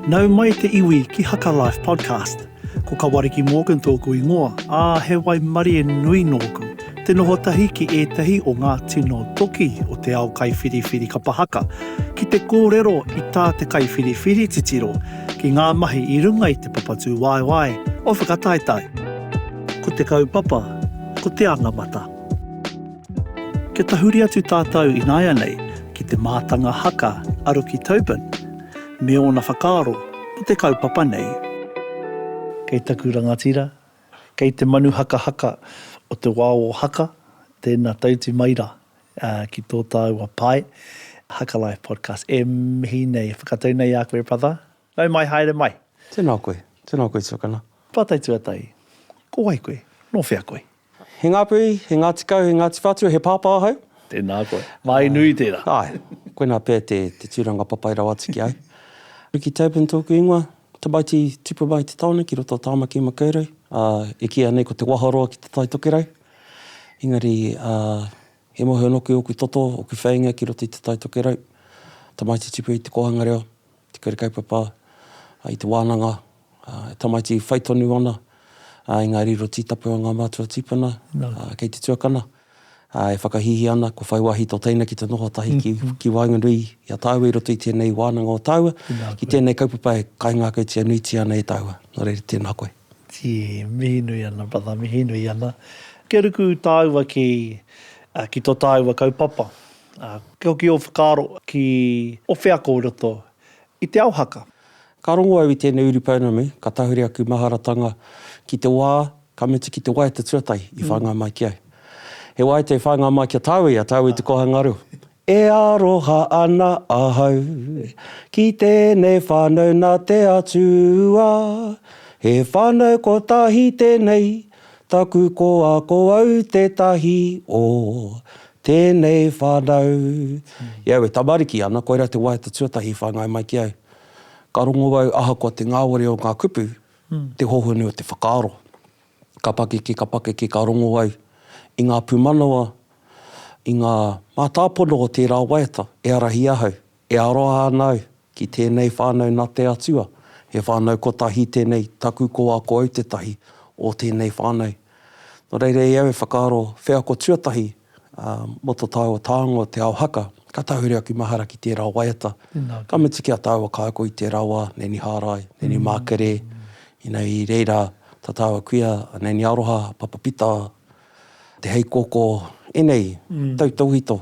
Nau mai te iwi ki Haka Life Podcast. Ko Kawariki Morgan tōku ingoa, ā, he waimarie nui nōku. Te noho tahi ki ētahi o ngā tino toki o te ao kaiwhiriwhiri kapa haka, ki te kōrero i tā te kaiwhiriwhiri titiro, ki ngā mahi i runga i te papatūwaewae o whakataetae. Ko te kaupapa, ko te anamata. Kia tahuri atu tātou ināianei ki te mātanga haka a Ruki Tobin me ōna whakaaro mō te kaupapa nei. Kei taku rangatira, kei te manu hakahaka o te wā o Haka, tēnā tauti mai rā ki tō tāua pae, Haka Life Podcast. E mihi nei, e whakatau nei ā koe brother. Nau mai, haere mai. Tēnā koe, tēnā koe tuakana. Pātai tuatahi, Ko wai koe, nō whea koe? He Ngāpuhi, he Ngāti Kau, he Ngāti Whātua, he pāpā ahau. Tēnā koe. Māi nui tērā. Āe, koinā pea te tūranga papai rawa atu ki ahau. Ricky Tobin tōku ingoa, tamaiti tupu mai i te taone ki roto o Tāmaki Makaurau. E kīia nei ko Te Waharoa ki te Tai Tokerau. Engari he mohi noku ōku toto, ōku wheinga ki roto i te Tai Tokerau. Tamaiti tupu i te kōhanga reo. te kura kaupapa, i te wānanga, e tamaiti whai tonu ana, engari i ro tītapu a ngā mātua tīpuna, kei te tuakana, e whakahīhī ana, ko whai wāhi tō teina ki te noho tahi ki waenganui i a tāua i roto i tēnei wānanga o tāua, ki tēnei kaupapa e kaingākautia nuitia ana e tāua. Nō reira, tēnā koe. Tī, mihi nui ana, brother, mihi nui ana. Kia ruku tāua ki tō tāua kaupapa. Ā, kia hoki ō whakaaro ki ō wheako i roto i te ao haka. Ka rongo au i tēnei uri pounamu, ka tahuri aku maharatanga ki te wā ka mutu ki te waiata tuatahi i whāngai mai ki au. He waiata i whāngai mai ki a tāua, i a tāua i te kōhanga reo. E aroha ana ahau ki tēnei whānau nā te Atua, he whānau kotahi tēnei, Taku koa ko au tētahi o tēnei whanau. I au e tamariki ana, koirā te waiata tuatahi i whāngai mai ki au. Ka rongo au ahakoa te ngāwari o ngā kupu, te hohonu o te whakaaro. Ka pakeke, ka pakeke, ka rongo au i ngā pūmanawa, i ngā mātāpono o tērā waiata e ārahi ahau E aroha ana au ki tēnei whānau nā te Atua, he whānau kotahi tēnei taku ko a ko au tētahi o tēnei whānau. Nō reira i au e whakaaro wheako tuatahi mō to tāua tāonga o Te Ao Haka, ka tahuri aku mahara ki tērā waiata, ka mutu ki a tāua kāko i tērā wā, Neni Hārai, Neni Mākerē, ina i reira tā tāua kuia a Neni Aroha, Papa Pita, Te heiko ko enei tautauhito,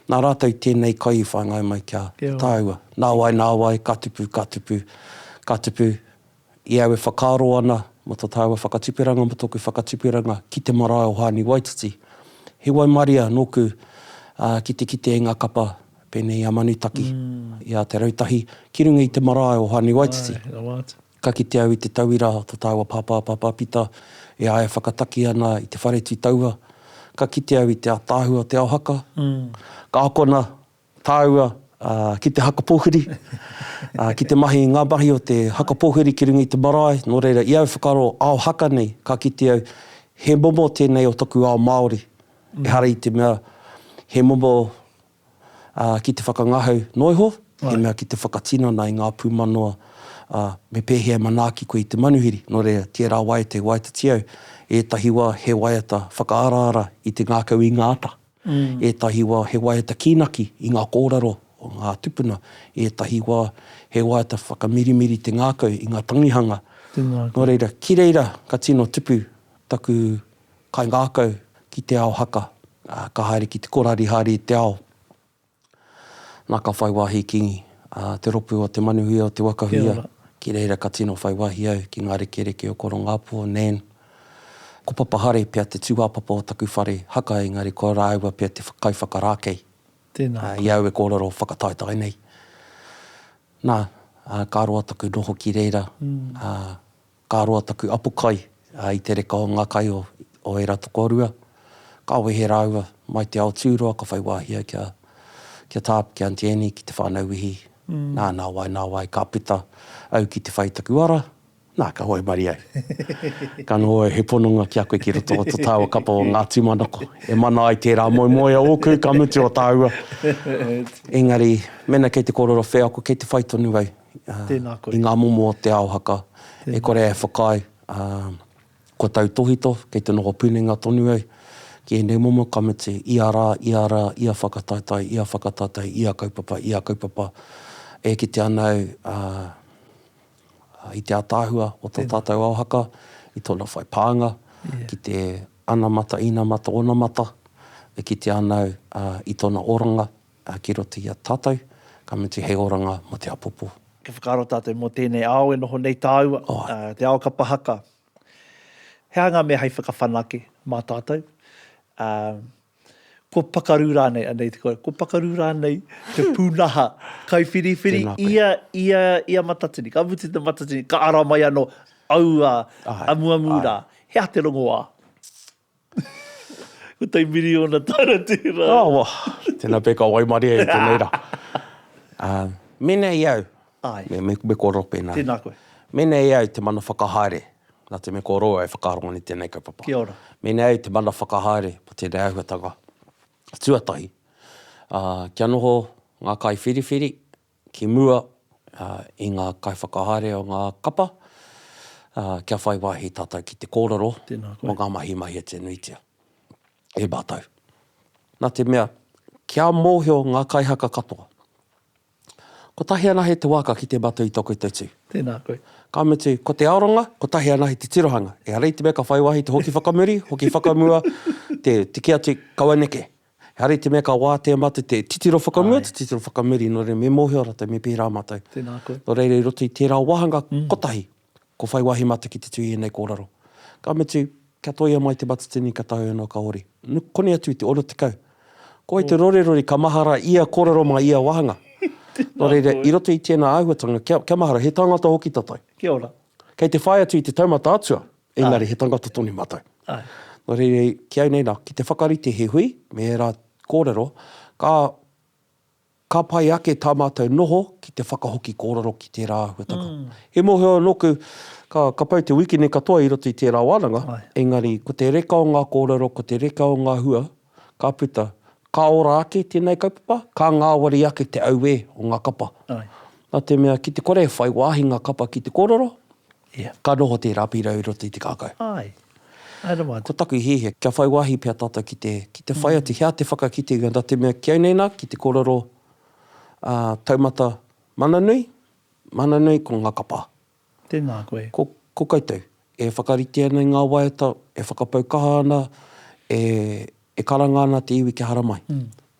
na ratou tenei kai i whangai mai kia taua. Nawai, nawai, ka tupu, ka tupu, ka tupu, i au e whakaaro ana mo to taua whakatuperanga mo toku whakatuperanga ki te marae o Haani Waititi. He waimaria noku ki te kite i nga kapa penei i a Manutaki, i a Te Rautahi, ki runga i te marae o Haani Waititi. Ka kite au i te tauira a to taua pāpā pāpāpita e āia whakataki ana i te whare tū taua. Ka kite au i te ataahua o te ao haka. Ka akona tāua ki te haka pōwhiri, ki te mahi i ngā mahi o te haka pōwhiri ki runga i te marae. Nō reira, i au whakaaro ao haka nei, ka kite au he momo tēnei o taku ao Māori, ehara i te mea he momo ā, ki te whakangahau noa iho, he mea ki te whakatinana i ngā pūmanawa, ā, me pēhea e manaaki koe i te manuhiri. Nō reira, tērā wai te waiata tiau, ētahi wā he waiata whakaaraara i te ngākau i ngā ata, ētahi wā he waiata kīnaki i ngā kōrero o ngā tupuna, ētahi wā he waiata whakamirimiri te ngākau i ngā tangihanga. Nō reira, ki reira ka tino tupu taku Kaingākau ki te ao haka, ā, ka haere ki te korarihāri i te ao. Nā, ka whai wāhi ki, ā, te ropu o Te Manuhia o Te Wakahuia, ki reira ka tino whai wāhi au ki ngā rekereke o Korongāpō, Nan. Ko Papa Hare pea te tūāpapa o taku whare haka engari ko rāua pea te kaiwhakarākei, ā, i au e kōrero whakataetae nei. Nā, ā, ka roa taku noho ki reira, ā, Ka roa taku apo kai i te reka o ngā kai o ērā tokorua. Ka wehe rāua mai te ao tūroa ka whai wāhi ai kia tā, ki Aunty Annie, ki te whānau Wihi. Nā, nā wai, nā wai, ka puta au ki te whai i taku ara, nā, ka waimarie au. Ka noho he pononga ki a koe ki roto o to tāua kapa o ngā tūmanako. E mana ai tērā moemoea ōku ka mutu o tāua. Engari, mēnā kei te kōrero wheako, kei te whai tonu au. i ngā momo o te ao haka, e kore e whakaae, kua tautōhito, kei te noho punenga tonu au ki ēnei momo kamiti, ia rā, ia rā, ia whakataetae, ia whakataetae, ia kaupapa, ia kaupapa, e kite ana au i te ātaahua o tō tātou ao haka, i tōna whai pānga ki te anamata, inamata, onamata, e kite ana au i tōna oranga, Ā, ki roto i a tātou, ka mutu hei oranga mō te apopo. Ka whakaaro tātou mō tēnei ao e noho nei tāua, te ao kapa haka. He aha ngā mea hei whakawhanake mā tātou? Ā, kua pakaru rānei, anei te kōrero, kua pakaru rānei te pūnaha kaiwhiriwhiri? Tēnā koe. Ia, ia, ia matatini, ka mutu te matatini, ka ara mai anō aua amuamu rā. He aha te rongoā? Ko tei miriona tara tera. Oh, wa. Tena peka waimarie i tenei ra. Um, menei au. Ai. Me, me, me ko ro pena. Tena koe. Menei au te mana whakahaere. Na te me ko ro e whakarongo ni tenei kaupapa. Kia ora. Menei au te mana whakahaere mo tenei ahuatanga tuatahi. Uh, kia noho nga kai whiriwhiri, ki mua i ngā kaiwhakahaere o ngā kapa, kia whai wāhi tātou ki te kōrero mō ngā mahi mahi e tenuitia e mātou. Nā te mea, kia mōhio ngā kaihaka katoa, kotahi anahe te waka ki te matau i tō koutou tū. Tēnā koe. Ka mutu, ko te aronga, kotahi anahe te tirohanga. Ehara i te mea ka whai wāhi te hoki whakamuri, hoki whakamua, te tiki atu, kaua neke. He hari te mea ka wātea mātou te titiro whakamua, te titiro whakamiri, nō reira me mōhio rātou me pērā mātou. Tēnā koe. Nō reira i roto i tērā wāhanga kotahi, kua whai wāhi mātou ki te tū i ēnei kōrero. Ka mutu, kia toia mai te matatini ka taea noa ka hori. Koni atu i te 60. Ko wai te rorerori ka mahara ia kōrero mā ia wāhanga. Nō reira, i roto i tēnā āhuatanga, kia mahara, he tāngata hoki tātou. Kia ora. Kei te whai atu i te taumata atua. Engari he tangata tonu matou. No reira ki au nei na, ki te whakarite he hui me era korero, ka ka pai ake ta matou noho ki te whakahoki korero ki tera ahuatanga. He mohio noku, ka ka pau te wikene katoa i roto i tera wananga, engari ko te reka o nga korero, ko te reka o nga hua, ka puta, ka ora ake tēnei kaupapa, ka ngāwari ake te auē o ngā kapa. Nā te mea, ki te kore e whai wāhi ngā kapa ki te kōrero, ka noho tērā pīrau i roto i te kākau. Ko taku hiahia, kia whai wāhi pea tātou ki te, ki te whai atu, he aha te whakakitenga, nā te mea, kia nei nā, ki te kōrero taumata mana nui, mana nui ko ngā kapa. Tēnā koe. Ko, ko koutou, e whakarite ana i ngā waiata, e whakapau kaha ana, e, e karanga ana te iwi kia hara mai.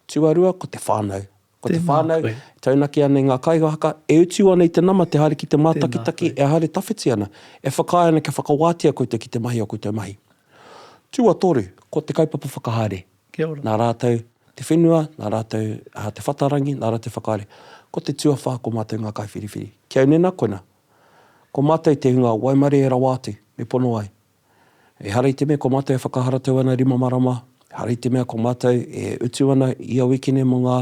Tuarua, ko te whānau. Ko te whānau, e taunaki ana i ngā kāinga haka, e utu ana i te nama, te haere ki te mātakitaki, e haere tawhiti ana, e whakaae ana kia whakawātea koutou ki te mahi o koutou mahi. Tuatoru, ko te kaupapa whakahaere. Nā rātou te whenua, nā rātou te whatarangi, nā rātou te whakahaere. Ko te tuawhā ko mātou ngā kaiwhiriwhiri. Ki au nena koina, ko mātou te hunga waimarie e rawa atu, me pono ai. Ehara i te mea ko mātou e whakaharatau ana rima marama, ehara i te mea ko mātou e utu ana ia wikene mō ngā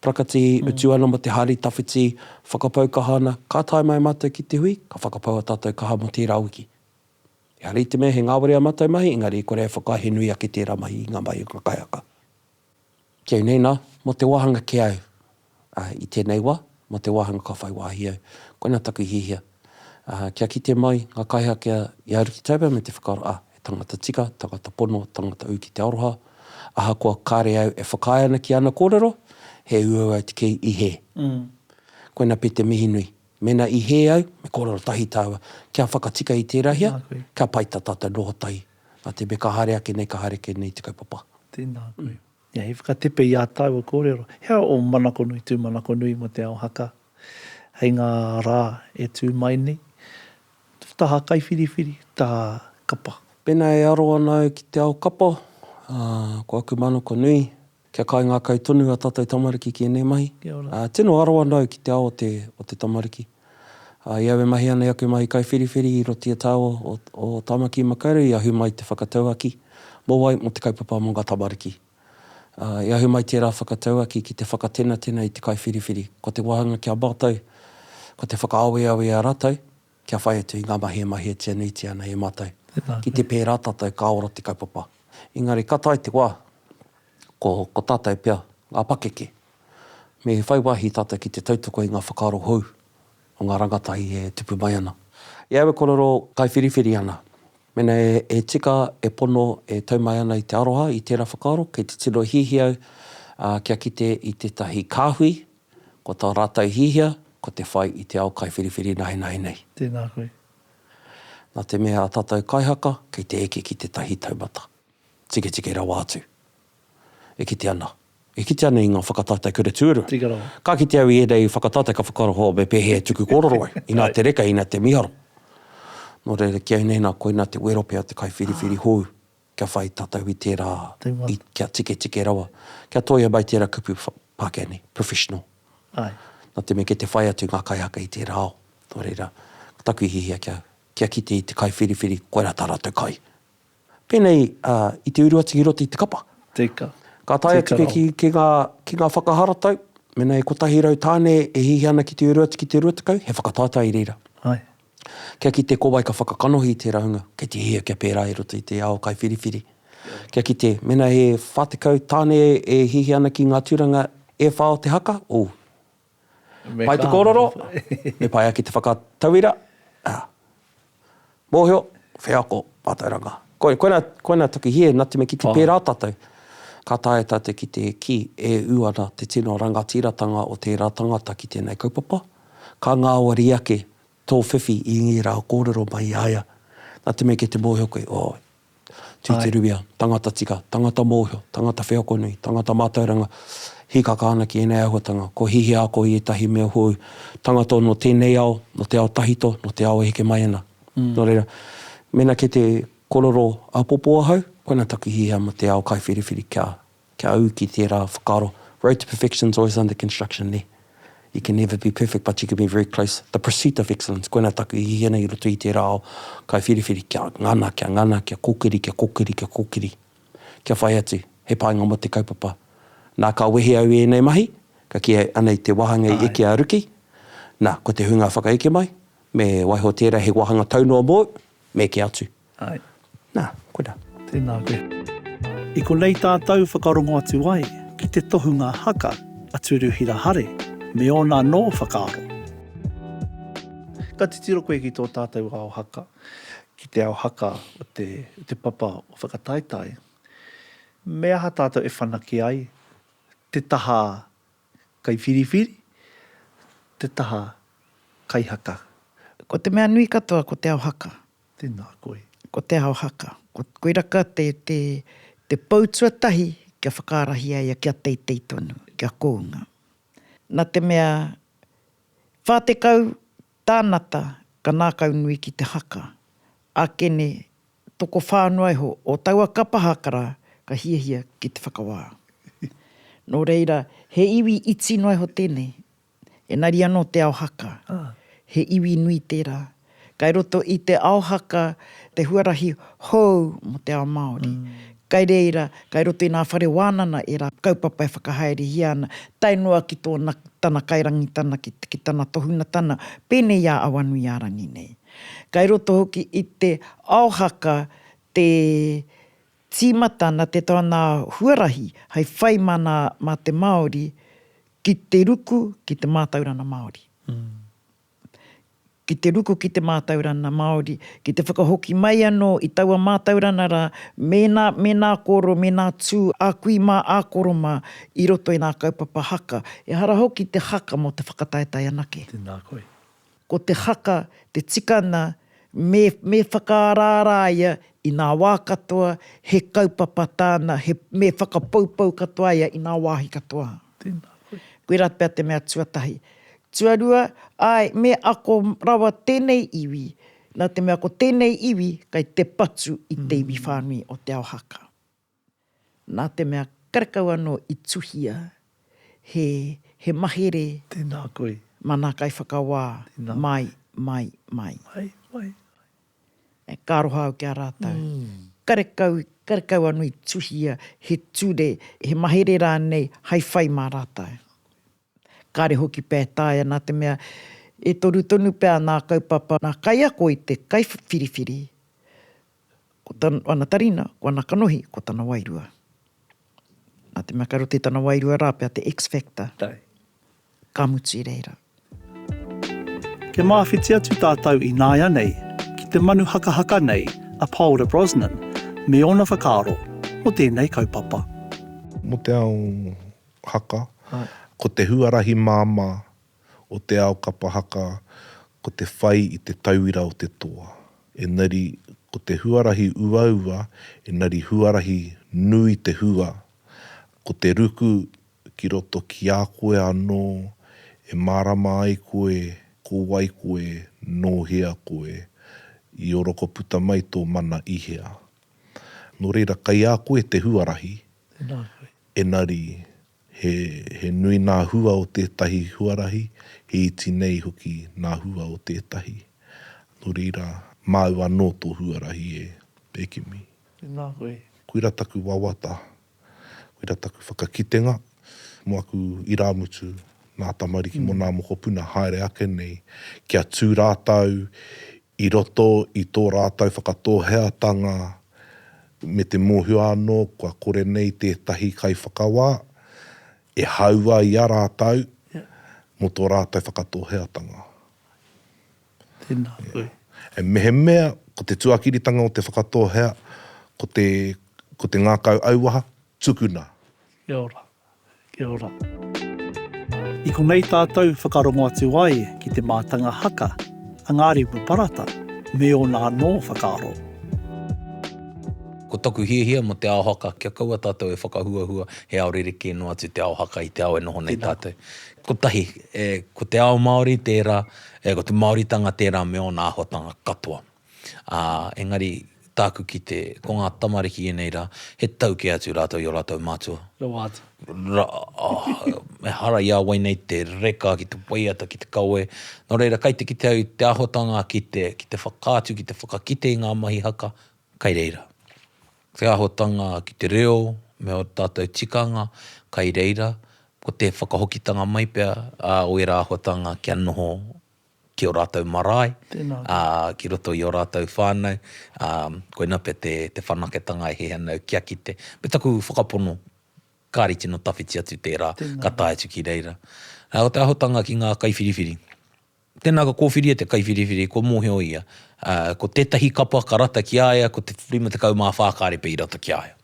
prakati, utu ana mō te hari tawhiti, whakapau kaha ana, ka tae mai mātou ki te hui, ka whakapau ā tātou kaha mō tērā wiki. Engari i te mea he ngāwari ā mātou mahi, engari i kore e whakaae he nui ake tērā mahi i ngā mahi o ngā kaiaka. Ki au nei nā, mō te wāhanga ki au, ā, i tēnei wā, mō te wāhanga ka whai wāhi au, koina taku hiahia, ā, kia kite mai ngā kaihaaki a Ia Aru Ki Taua me te whakaaro, ā, he tangata tika, tangata pono, tangata ū ki te aroha, ahakoa kāre au e whakaae ana ki ana kōrero, he uaua te kī i hē. Koina pea te mihi nui. Mena i hē au, me korero tahi tāua, kia whakatika i tērā hea, kia pai tā tātou noho tahi. Nā te mea ka haere ake nei, ka haere kē nei te kaupapa. Tēnā koe. Ia, he whakatepe i ā tāua kōrero. He aha ō manakonui, tūmanakonui mō Te Ao Haka hei ngā rā e tū mai nei? Taha kaiwhiriwhiri, taha kapa? Pēnā e aro ana au ki te ao kapa, ko aku manako nui, Kia kaingakau tonu a tatou tamariki ki enei mahi. Kia ora. Tino aro anau ki te ao o te, o te tamariki. I au e mahi ana i aku mahi kaiwhiriwhiri i roto i a tau o, o Tamaki Makaurau i ahu mai te whakatauaki mo wai, mo te kaupapa mo nga tamariki. I ahu mai tera whakatauaki ki te whakatenatena i te kaiwhiriwhiri. Ko te wahanga ki a matou, ko te whakaaweawe i a ratou, kia whai atu i ngā mahi e mahietia nuitia ana e mātou. Ki te pērā tātou ka ora te kaupapa. Engari ka tae te wā, ko, ko tātou pea ngā pakeke. Me whai wāhi tātou ki te tautoko i ngā whakaaro hou o ngā rangatahi e tupu mai ana. I aua kōrero kaiwhiriwhiri ana, mēnā e, e tika, e pono, e tau mai ana i te aroha i tērā whakaaro, kei te tino hiahia au, ā, kia kite i tētahi kāhui, Ko tā rātou hiahia, ko te whai i te ao kaiwhiriwhiri nahenahe nei. Tēnā koe. Nā te mea a tātou kaihaka kei te eke ki tētahi taumata tiketike rawa atu. E kite ana. E kite ana i ngā whakatātai kura tuarua. Tika rawa. Ka kite au i ēnei whakatātai ka whakaaro, oh, me pēhea e tuku kōrero ai? Inā te reka, inā te miharo. Nō reira, ki au nei nā koinā te wero pea te kaiwhiriwhiri hou. kia whai tatau i tērā, i, kia tiketike rawa, kia toia mai tērā kupu Pākehā nei, professional. Ai. Nā te mea kei te whai atu ngā kaihaka i tērā ao. Nō reira, ko taku hiahia kia, kia kite i te kaiwhiriwhiri, koirā tā rātou kai. Pēnei, ā, i te uru atu i roto i te kapa. Te ika. Ka tae atu koe ki, ki ngā, ki ngā whakaharatau, mēnā e kotahi rau tāne e hiahia ana ki te uru atu ki te rua tekau, he whakataetae i reira. Ai. Kia kite ko wai ka whakakanohi i tērā hunga, kei te hia kia pērā i roto i te ao kaiwhiriwhiri. Kia kite, mēnā he 40 tāne e hihi ana ki ngā tūranga e whā o te haka, oh. Pai te kōrero, me pai ake te whakatauira, ah. Mōhio, wheako, mātauranga. Koina, koina taku hia, nā te mea ki te pērā tātou, ka taea tātou ki te kī, e ū ana te tino rangatiratanga o tērā tangata ki tēnei kaupapa. Ka ngāwari ake tō whiwhi i ngērā kōrero mai i a ia. Nā te mea kei te mōhio koe, oh, tūturuia, tangata tika, tangata mōhio, tangata wheakonui, tangata mātauranga, hīkaka ana ki ēnei āhuatanga, kua hihia ako i ētahi mea hou, tangata nō tēnei ao, nō te ao tahito, nō te ao e heke mai ana. Nō reira, mēnā kei te korero āpōpō ahau, koinā taku hihia mō te ao kaiwhiriwhiri kia. Kia ū ki tērā whakaaro, road to perfection's always under construction, nē? You can never be perfect but you can be very close, the pursuit of excellence, koinā taku hiahia nei i roto i tērā ao kaiwhiriwhiri, kia ngana, kia ngana, kia kōkiri, kia kōkiri, kia kōkiri. Kia whai atu, he painga mō te kaupapa. Nā, ka wehe au i ēnei mahi, ka kī ai, anei te wāhanga i eke a Ruki, nā, ko te hunga whakaeke mai, me waiho tērā he wāhanga tau noa mōu, me eke atu. Ai. Nā, koirā. Tēnā koe. I konei tātou whakarongo atu ai ki te tohunga haka a Turuhira Hare me ōna anō whakaaro. Ka titiro koe ki tō tātou ao haka, ki te ao haka o te, o te papa o Whakataetae. Me aha tātou e whanake ai te taha kaiwhiriwhiri, te taha kaihaka? Ko te mea nui katoa ko te ao haka. Tēnā koe. Ko Te Ao Haka. Ko Koiraka te, te, te pou tuatahi kia whakaarahia ia kia teitei tonu, kia kounga. Na te mea, whā tekau tānata ka nākaunui ki te haka. Ākene, tokowhā noa iho o taua kapa hakara ka hiahia ki te whakawā. Nō reira, he iwi iti noa iho tēnei, Engari anō te ao haka, he iwi nui tērā. Kai roto i te ao haka te huarahi hou mō te ao Māori. Kai reira, kai roto i ngā whare wānana ērā kaupapa e whakahaerehia ana, tae noa ki tōna, tana kairangitana, ki, ki tana tohungatana, pēnei i a Awanuiārangi nei. Kai roto hoki i te ao haka te, Tīmata na te tana huarahi hai whai mana ma te Māori ki te ruku ki te mātaurana Māori. Ki te ruku ki te mātaurana Māori, ki te whakahoki mai anō i taua mātaurana rā, mēnā, mēnā kōrero, mēnā tū a kui mā, a koro mā i roto i ngā kaupapa haka, ehara hoki te haka mō te whakataetae anake. Tēnā koe. Ko te haka te tikanga me me whakaaraara ia i ngā wā katoa, he kaupapa tāna, he, me whakapoupou katoa ia i ngā wāhi katoa. Tēnā koe. Koirā pea te mea tuatahi. Tuarua, āe, me ako rawa tēnei iwi, nā te mea ko tēnei iwi kei te patu i te iwi whānui o Te Ao Haka. nā te mea karekau anō i tuhia he, he mahere. Tēnā koe. Mana Kaiwhakawā. Tēnā. Mai, mai, mai. Mai, mai, mai. E, ka aroha au ki a rātou. Mm. Karekau, karekau anō i tuhia he ture, he mahere rānei hai whai mā rātou. Kāre hoki pētaia nā te mea e toru tonu pea nā kaupapa, nā kaiako i te kaiwhiriwhiri, Ko tana tarina, ko ana kanohi, ko tana wairua. Nā te mea kei roto i tana wairua rā pea te X-factor. Tae. Ka mutu i reira. Kia mawhiti atu tātou ināianei ki te manu hakahaka nei a Paora Brosnan me ōna whakaaro mō tēnei kaupapa. Mō te ao haka, ko te huarahi māmā o te ao kapa haka ko te whai i te tauira o te toa, engari ko te huarahi uaua engari huarahi nui te hua, ko te ruku ki roto ki a koe anō e mārama ai koe ko wai koe nō hea koe, i orokoputa mai tō mana i hea. Nō reira kai a koe te huarahi, engari He nui ngā hua o tētahi huarahi, he iti nei hoki ngā hua o tētahi. Nō reira, māu anō tō huarahi e, e kimi. Tēnā koe. Koira taku wawata, koira taku whakakitenga mō aku irāmutu, ngā tamariki mō ngā mokopuna haere ake nei, kia tū rātou I roto i tō rātou whakatōheatanga me te mōhio anō kua kore nei tētahi kaiwhakawā e haua i a rātou mō tō rātou whakatōheatanga. Tēnā koe. Mehemea ko te tuakiritanga o te whakatōhea ko te ngākau auaha, tukuna. Kia ora. Kia ora. I konei tātou whakarongo atu ai ki te mātanga haka a ngā repu parata me ōna anō whakaaro. Ko taku hiahia mō te ao haka, kia kaua tātou e whakahuahua he ao rerekē noa atu te ao haka i te ao e noho nei tātou. Kotahi, ko te ao Māori tērā, ko te Māoritanga tērā me ōna āhuatanga katoa. ā, engari, tāku ki te, ko ngā tamariki ēnei rā, he tau kē atu rātou i ō rātou mātua. Rawa atu. Ra, oh, ehara i a wai nei te reka ki te waiata, ki te kawe. Nō reira, kai te kite au te āhotanga ki te, ki te whakaatu, ki te whakakite i ngā mahi haka, kai reira. Te āhotanga ki te reo me ō tātou tikanga, kai reira. Ko te whakahokitanga mai pea, ā, o ērā āhotanga kia noho, ki ō rātou marae, ki roto i ō rātou whānau, koina pea te whanaketanga e hē ana au kia kite. Me taku whakapono, kāre i tino tawhiti atu tērā, ka tae atu ki reira. Ko te ahotanga ki ngā kaiwhiriwhiri, tēnā ka kōwhiri e te kaiwhiriwhiri, kua mōhio ia, ko tētahi kapa ka rata ki a ia, ko te 54 kāre pea i rata ki a ia.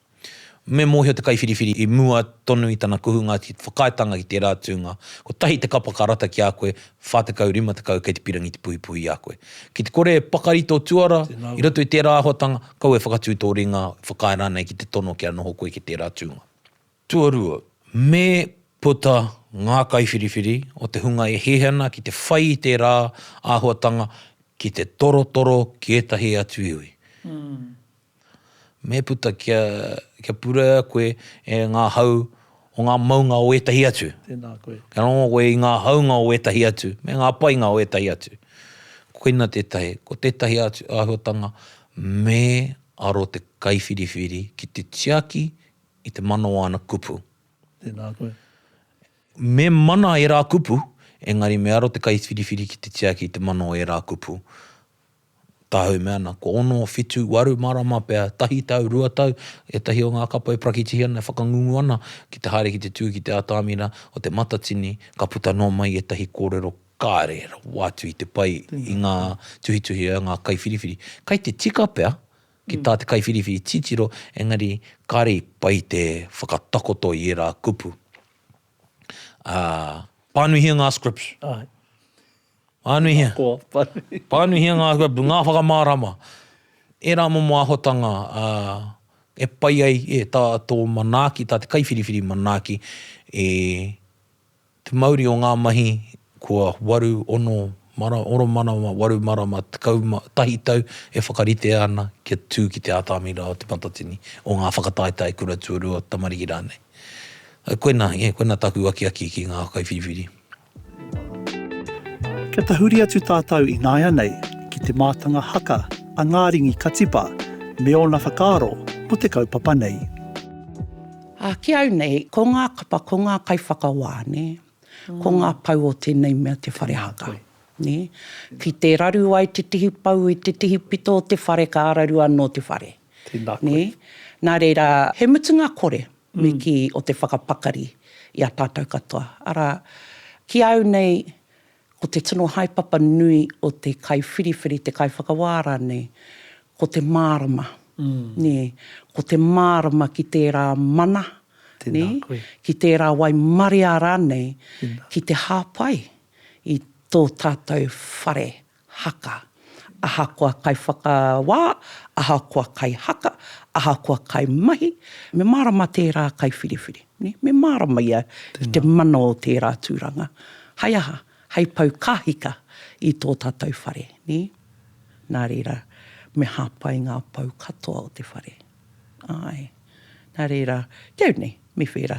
Me mōhio te kaiwhiriwhiri i mua tonu i tana kuhu ngā whakaaetanga ki tērā tūnga, kotahi te kapa ka rata ki a koe, 40, 50 kei te pirangi te puhipuhi i a koe. Ki te kore e pakari tō tuara i roto i tērā āhuatanga, kau e whakatū tō ringa, whakaae rānei ki te tono kia noho koe ki tērā tūnga. Tuarua, me puta ngā kaiwhiriwhiri o te hunga e hē ana ki te whai i tērā āhuatanga ki te torotoro ki ētahi atu iwi. Me puta kia, kia purea koe e ngā hau o ngā maunga o ētahi atu. Tēnā koe. Kia rongo koe i ngā haunga o ētahi atu, me ngā painga o ētahi atu. Koina tētahi, ko tētahi atu āhuatanga, me aro te kaiwhiriwhiri ki te tiaki i te mana o ana kupu. Tēnā koe. Me mana ērā kupu, engari me aro te kaiwhiriwhiri ki te tiaki i te mana o ērā kupu. Tāhau mea ana, kua ono, whitu, waru marama pea, tahi tau, rua tau, ētahi o ngā kapa e prakitihi ana, e whakangungu ana ki te haere ki te tū ki te atamira o Te Matatini, ka puta noa mai ētahi kōrero kāre e rawa atu i te pai i ngā tuhituhi a ngā kaiwhiriwhiri. Kai te tika pea ki tā te kaiwhiriwhiri titiro, engari kāre i pai te whakatakoto i ērā kupu. Ā, pānuihia ngā scripts. Āe. Pānuihia. Pānuihia ngā huapu, ngā whakamārama, ērā momo āhotanga e pai ai e tā tō manaaki, tā te kaiwhiriwhiri manaaki e te mauri o ngā mahi kua waru, ono, oro marama, waru marama, tekau, tahi tau e whakaritea ana kia tū ki te ātamira o Te Matatini, o ngā whakataetae kura tuarua, tamariki rānei. Koinā, koinā tāku akiaki ki ngā kaiwhiriwhiri. Kia tahuri atu tātou ināianei ki te mātanga haka a Ngāringi Katipa me ōna whakaaro mō te kaupapa nei. Ā, ki au nei, ko ngā kapa, ko ngā kaiwhakawā, nē, ko ngā pou o tēnei mea te whare haka, nē. Ki te raru ai te tihi pou i te tihi pito o te whare, ka raru anō te whare. Tēnā koe. Nē? Nā reira, he mutunga kore. me kī o te whakapakari i a tātou katoa, arā, ki a au nei, ko te tino haepapa nui o te kaiwhiriwhiri, te kaiwhakawā rānei, ko te mārama, nē, ko te mārama ki tērā mana, nē, ki tērā waimaria rānei, ki te hāpai i tō tātou whare haka. Ahakoa kaiwhakawā, ahakoa kaihaka, ahakoa kaimahi, me mārama tērā kaiwhiriwhiri. Me mārama ia i te mana o tērā tūranga. Hai aha? Hai pau kāhika i tō tātou whare. Nā reira, me hāpai ngā pou katoa o te whare. Āe. Nā reira, kei au nei, me whērā.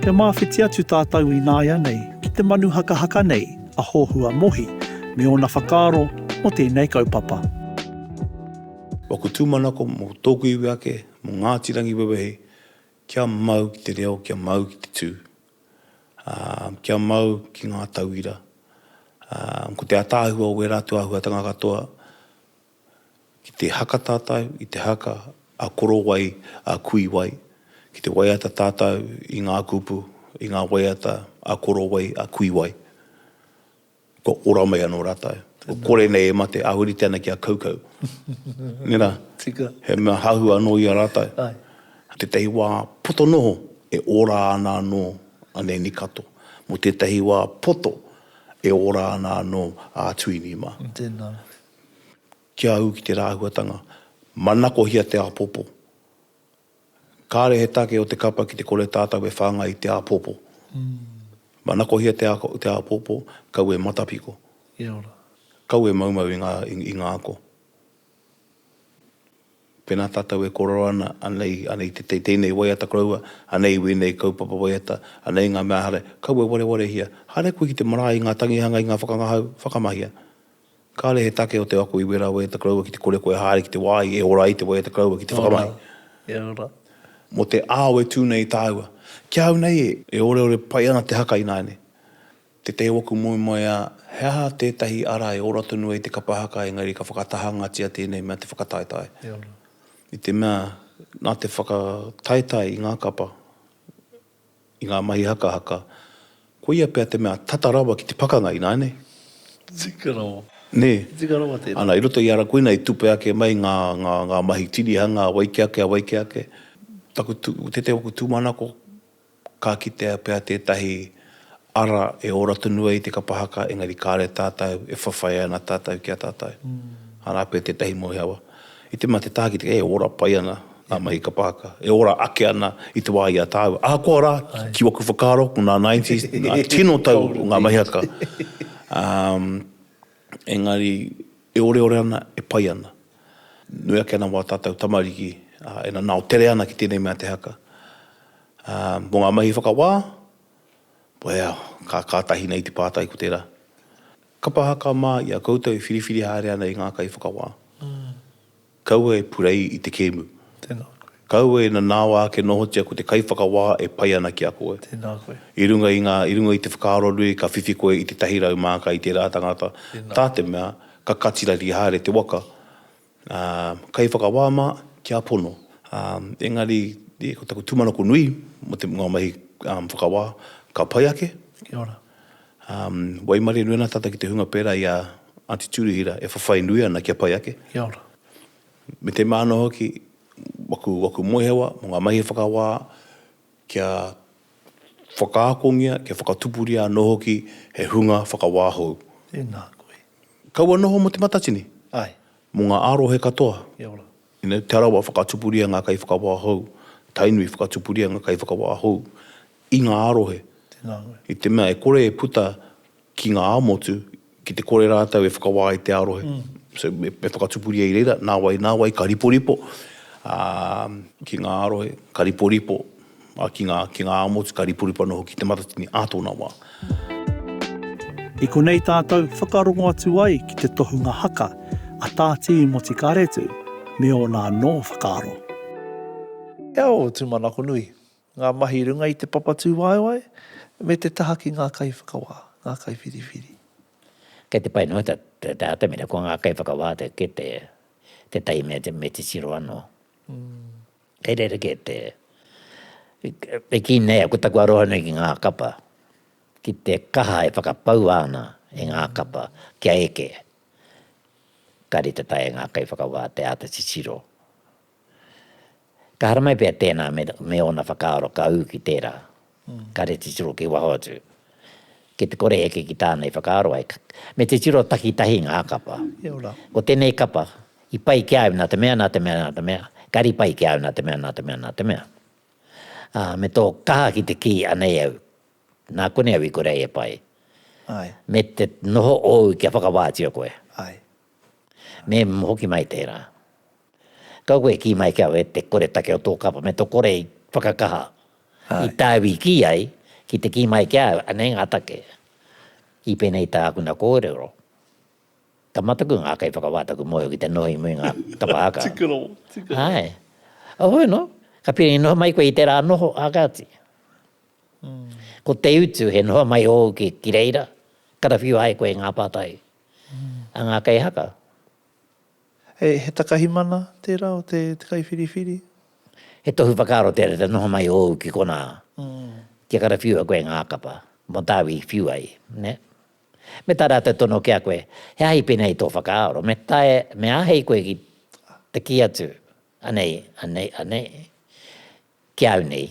Kia māwhiti atu tātou ināianei ki te manu hakahaka nei a Hohua Mohi me ōna whakaaro mō tēnei kaupapa. Mō ōku tūmanako, mō tōku iwi ake, mō Ngāti Rangiwewehi, kia mau ki te reo, kia mau ki te tū, ā, kia mau ki ngā tauira, ā, ko te ātaahua o ērā atu āhuatanga katoa, ki te haka tātou i te haka a korowai, a kuiwai, ki te waiata tātou i ngā kupu, i ngā waiata a korowai, a kuiwai, kua ora mai anō rātou. Kua kore nei e mate, āhurite ana ki a Kaukau. Nē rā? Tika. He mea hahu anō i a rātou. Āe. Tētahi wā poto noho, e ora ana anō a Nēni Kato. Mō tētahi wā poto, e ora ana anō a Tuini mā. Tēnā. kia ū ki tērā āhuatanga, manakohia te āpōpō. Kāre he take o te kapa ki te kore tātou e whāngai i te āpōpō. Manakohia te āpōpō, kaua e matapiko. Kaua e maumau i ngā, i ngā ako. Pēnā tātou e kōrero ana, anei, anei i te, tēnei waiata koroua, anei i wēnei kaupapa waiata, anei ngā mea haere, kaua e warewarehia. Haere koe ki te marae i ngā tangihanga, i ngā whakangahau, whakamahia. Kāre he take o te ako i wera wē te koroua ki te kore koe haere ki te wā i e ora ai te wai a te koroua ki te whakamai. Kia ora. Mō te ao e tū nei tāua. Ki ahau nei e. E oreore pai ana te haka ināianei. Tētahi o aku moemoeā, he aha tētahi ara e ora tonu ai te kapa haka engari ka whakatahangatia tēnei mea te whakataetae. Kia ora. I te mea, nā te whakataetae i ngā kapa, i ngā mahi hakahaka, koia pea te mea tata rawa ki te pakanga, ināianei? Tika rawa. Nē. Tika rawa tēnā. Ana, i roto i a ra koina i tupe ake mai ngā, ngā, ngā mahi tinihanga a wai ki ake, a wai ki ake. Taku tū, tētahi o aku tūmanako, ka kitea pea tētahi Ara, e ora tonu ai te kapa haka engari kare tatou e whawhai ana tatou ki a tatou. Ara koe tetahi moe awa. I te ma te taha ki te e ora pai ana nga mahi kapa haka, e ora ake ana i te wa i a taua. Ahakoa ra, ki waku whakaaro, ko nga nineties, nga tino tau o nga mahi haka. Engari, e oreore ana, e pai ana. Nui ake ana wa tatou tamariki, a, e nanao tere ana ki tenei mea te haka. Mo nga mahi whakawa, Well, ka kātahi nei te pātai ko tērā, kapa aha ka mā i a koutou e whiriwhiri haere ana e ngā kaiwhakawā? Kaua e purei i te kēmu. Tēnā koe. Kaua e nanāoa ake nohotia ko te kaiwhakawā e pai ana ki a koe. Tēnā koe. I runga i ngā, i runga i te whakaaro nui ka whiwhi koe i tētahi rau māka i tērā tangata, tā te mea ka katirari haere te waka. Ā, kai whakawā mā, kia pono. Ā, engari, e, ko taku tūmanako nui, mō te, ngā mahi, ā, whakawā, ka pai ake. Kia ora. Ā, waimarie nui ana tātou ki te hunga pērā i a Aunty Turihira e whawhai nui ana kia pai ake. Kia ora. Me te mea anō hoki, waku, waku moehewa, mō ngā mahi whakawā, kia whakaakongia, kia whakatupuria anō hoki he hunga whakawā hou. Tēnā koe. Kaua noho mo Te Matatini? Ae. Mo nga arohe katoa. Kia ora. Ina Te Arawa whakatupuria nga kaiwhakawā hou, Tainui whakatupuria nga kaiwhakawā hou i nga arohe. Tena koe. I te mea e kore e puta ki nga amotu ki te kore ratou e whakawā i te arohe. So me whakatupuria i reira, na wai, na wai ka riporipo ki nga arohe, ka riporipo. Ā, ki ngā, ki ngā Amots, ka ripuripu anō hoki te Matatini ā tōna wā. I konei tātou whakarongo atu ai ki te tohunga haka a Tā Tīi Motikāretu me ōna anō whakaaro. E ao tūmanako nui, ngā mahi runga i te papatūwaewae me te taha ki ngā kaiwhakawā, ngā kaiwhiriwhiri. Kei te pai noa te atamira ko ngā kaiwhakawā te kete, tētahi mea me te tiro anō. Kei rerekē te, e kī nei au ko taku arohanui ki ngā kapa, ki te kaha e whakapaua ana e ngā kapa kia eke. Ka rite tae e ngā kaiwhakawā te āta titiro. Ka haramai pea tēnā me ōna whakaaro ka ū ki tērā. Ka rere titiro ki waho atu. Ki te kore heke ki tāna i whakaaro ai. Me titiro takitahi ngā kapa. Ko tēnei kapa, i pai ki a au nā te mea, nā te mea, nā te mea. Kāre i pai ki a au nā te mea, nā te mea, nā te mea. Ā, me tō kaha ki te kī, anei au, nā konei au i kore ai e pai. Me te noho ōu kia whakawātia koe. Me hoki mai tērā. Kau koe e kī mai ki au e te koretake o tō kapa me tō kore i whakakaha i tāu i kī ai ki te kī mai ki a au anei ngā take i pēnei tākuna kōrero. Ka mataku ngā kaiwhakawā taku mōhio ki te noho i muri ngā kapa haka. Tikiro, tikiro. Āe. Oho anō, ka piri noho mai koe i tērā noho a Gati. Ko te utu he noho mai ōu ki reira, karawhiua ai koe i ngā pātai. a ngā kei haka. He takahi mana tērā o te kaiwhiriwhiri? He tohu whakaaro tērā te noho mai ōu ki konā, kia karawhiua koe ngā kapa mō tāu i whiu ai, nē? Me tā rātou tono ki a koe, he aha i pēnei i tō whakaaro, me taea, me āhei koe ki te kī atu, anei, anei, anei. Ki au nei,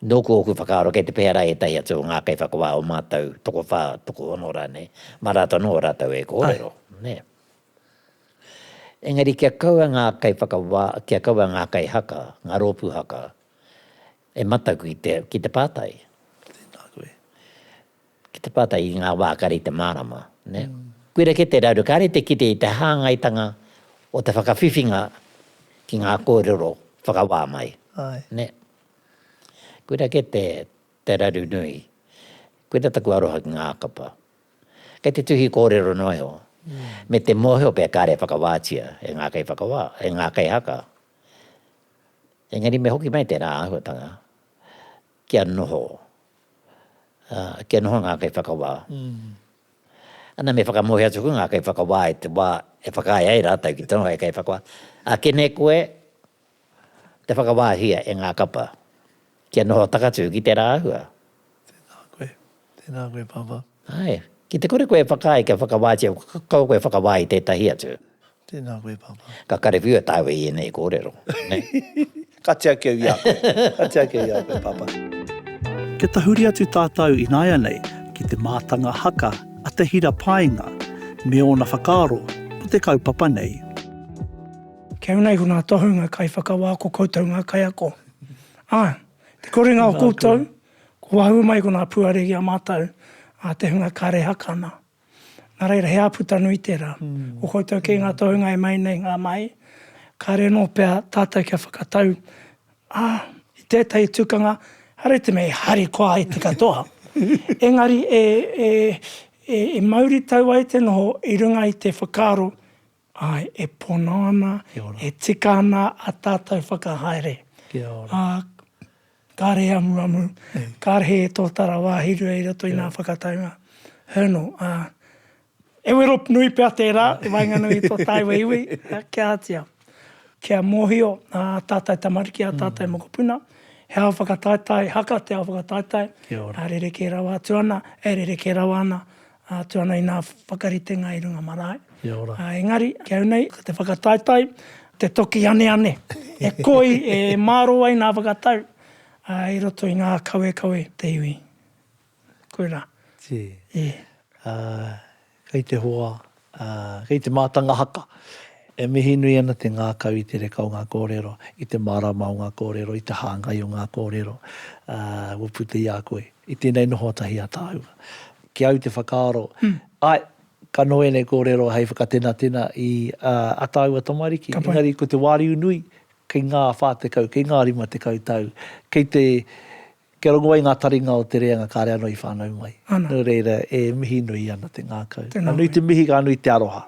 nōku ōku whakaaro kei te pēhea rā ētahi atu o ngā kaiwhakawā o mātou tokowhā, tokohono rānei, mā rātou anō rātou e kōrero, nē. Engari kia kaua ngā kaiwhakawā, kia kaua ngā kaihaka, ngā rōpū haka e matau ki te pātai. Tēnā koe. Ki te pātai i ngā wā kare i te mārama, nē? Koira kē te raru, kāre te kite i te hāngaitanga o te whakawhiwhinga ki ngā kōrero whakawā mai, nē? Koira kē te raru nui. Koira taku aroha ki ngā kapa. Kei te tuhi kōrero noa iho, me te mōhio pea kāre e whakawātia e ngā kaiwhakawā, e ngā kaihaka. Engari me hoki mai tērā āhuatanga. Kia noho, ā, kia noho ngā kaiwhakawā. Ana me whakamōhio atu koe ngā kaiwhakawā i te wā e whakaae ai rātou ki te noho hei kaiwhakawā. Akene koe te whakawāhia e ngā kapa kia noho takatū ki tērā āhua. Tēnā koe. Tēnā koe Papa. Āe. Ki te kore koe e whakaae kia whakawātea, kaua koe e whakawā i tētahi atu. Tēnā koe Papa. Ka karewhiu e tāua i ēnei kōrero. Ka tiaki au i a koe. Ka tiaki au i a koe Papa. Kia tahuri atu tātou ināianei ki te mātanga haka a Te Hira Paenga me ōna whakaaro mō te kaupapa nei. Kei runga iho ngā tohunga kaiwhakawā ko koutou ngā kaiako. Ā, te korenga o koutou Ko wahū mai ko ngā puare ki a mātou, a te hunga kare haka ana. Nā reira, he āputa nui tērā. Ko koutou kē ngā tohunga e mai nei ngā mahi, kāre anō pea tātou kia whakatau, ā, i tētahi tukanga, haere te mea e harikoa ai te katoa, engari e mauritau ai te noho i runga i te whakaaro Āe, e pono ana, e tika ana ā tātou whakahaere. Ā, kāre he amuamu, kāre he tōtara wāhirua i roto i ngā whakataunga. Hernal, ā, e wero nui pea tērā i waenganui i tō tāua iwi, kia ātia, kia mōhio ā tātou tamariki, ā tātou mokopuna, he ao whakataetae haka te ao whakataetae, ā rerekē rawa atu ana, e rerekē rawa ana Atu ana i nā whakaritenga i runga marae. Kia ora. Engari, ki au nei, ko te whakataetae, te toki aneane, e koi, e māro ai nā whakatau i roto i ngā kawekawe te iwi. Koirā. Tī. Ī. Ā, kei te hoa, ā, kei te mātanga haka. E mihi nui ana te ngākau i te reka o ngā kōrero, i te mārāma o ngā kōrero, i te hāngai o ngā kōrero, ā, kua puta i a koe. I tēnei noho tahi a tāua. Ki au te whakaaro, ae, ka noho enei korero hei whakatenatena i a taua tamariki, engari ko te wariu nui, kei nga wha tekau, kei nga rima tekau tau, kei te, kia rongo ai nga taringa o te reanga kare ano i whanau mai. No reira, e mihi nui ana te ngakau. Ka nui te mihi, ka nui te aroha.